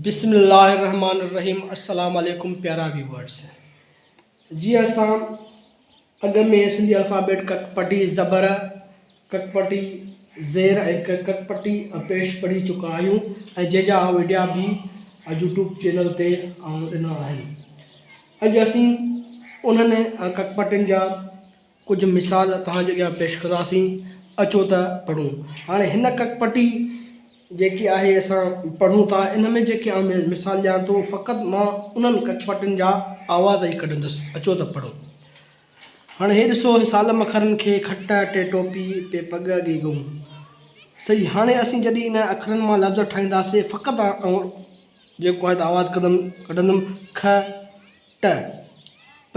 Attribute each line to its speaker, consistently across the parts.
Speaker 1: بسم الله الرحمن الرحيم السلام عليڪم پيارا ويورز جي اسان اڳ ۾ سنڌي الفابيٽ ڪڪ پٽي زبر ڪڪ پٽي زير ۽ ڪڪ پٽي پيش پڙهي چڪا آهيون ۽ جنهن جا ويڊيا به يوٽيوب چينل تي آئون ڏنا آهن اڄ اسين انهن ڪڪ پٽين جا ڪجهه مثال توهان جي اڳيان پيش ڪنداسين، اچو ته پڙهون. هاڻي هن ڪڪ پٽي جيڪي آهي اسان پڙهون ٿا، ان ۾ جيڪي آئون مثال ڏيان ٿو، فقط مان انهن ڪڪ پٽين جا آواز ئي ڪڍندس، اچو ته پڙهون. هاڻي هي ڏسو، هي سال مکرن کي، کٽ ٽي ٽوپي، پي پڳ اڳي ڳئون. صحيح، هاڻي اسين جڏهن انهن اکرن مان لفظ ٺاهينداسين، فقط آئون جيڪو آهي ته آواز ڪڍندم، کٽ، پ،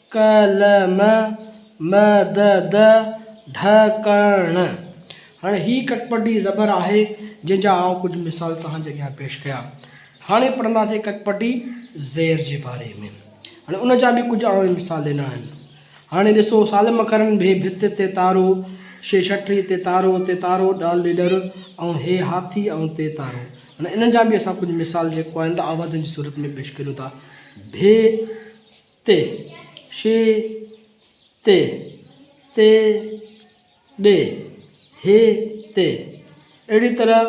Speaker 1: قلم، مدد، ڍڪڻ. هاڻي هي ڪڪپٽي زبر آهي جنهن جا آئون ڪجهه مثال توهان جي اڳيان پيش ڪيا. هاڻي پڙهنداسين ڪڪپٽي زير جي باري ۾. هاڻي ان جا به ڪجهه آئون مثال ڏنا آهن. هاڻي ڏسو سالم اکرن ڀي ڀت تي تارو، شي شٽري تي تارو، تي تارو، ڏال ڏيڏر، ائون هي هاٿي، ائون تي تارو. هاڻي انهن جا به اسان ڪجهه مثال جيڪو آهن ته آوازن جي صورت ۾ پيش ڪريون ٿا. ڀي. تي، شي، تي، تي، ڏي، هي، تي. اهڙي طرح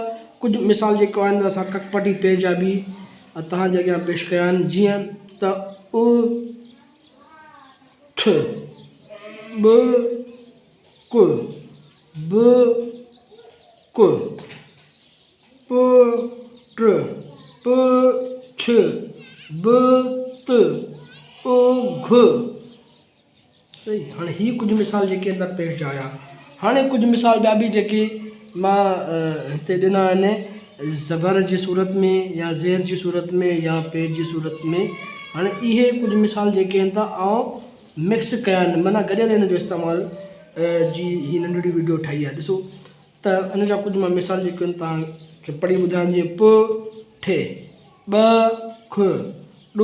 Speaker 1: ڪجهه مثال جيڪو آئنده اسان ڪڪپٽي پيج جا به توهان جي اڳيان پيش ڪيا آهن جيئن ته اُ ٺ، ٻ ڪ، ب ڪ. پ، ٽ، پ، ٺ، ب، ت، او، گھ، صحيح هاڻي هي ڪجهه مثال جيڪي اندر پيش جا هيا هاڻي ڪجهه مثال ٻيا به جيڪي مان هتي ڏنا آهن زبر جي صورت ۾ يا زير جي صورت ۾ يا پير جي صورت ۾ هاڻي اهي ڪجهه مثال جيڪي آهن ته آئون مڪس ڪيا آهن معنيٰ گڏيل هن جو استعمال جي هي ننڍڙي وڊيو ٺاهي آهي ڏسو ته ان جا ڪجهه مان مثال جيڪي توهان کي پڙهي ٻڌايان جيئن پ، ٺ، ٻ، کھ، ڏ،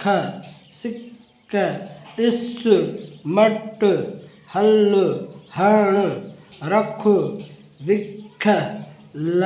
Speaker 1: کھ، سڪ، ڏس، مٽ، هل، هڻ، رک، وک، لھ،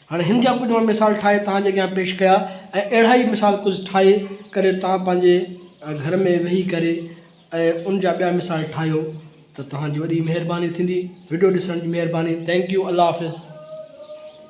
Speaker 1: هاڻي هن جا ڪجهه مان مثال ٺاهي توهان جي اڳيان پيش ڪيا ۽ اهڙا ئي مثال ڪجهه ٺاهي ڪري توهان پنهنجي گهر ۾ ويهي ڪري ۽ ان جا ٻيا مثال ٺاهيو ته توهان جي وڏي مهرباني ٿيندي وڊيو ڏسڻ جي مهرباني ٿينڪ يو الله حافظ.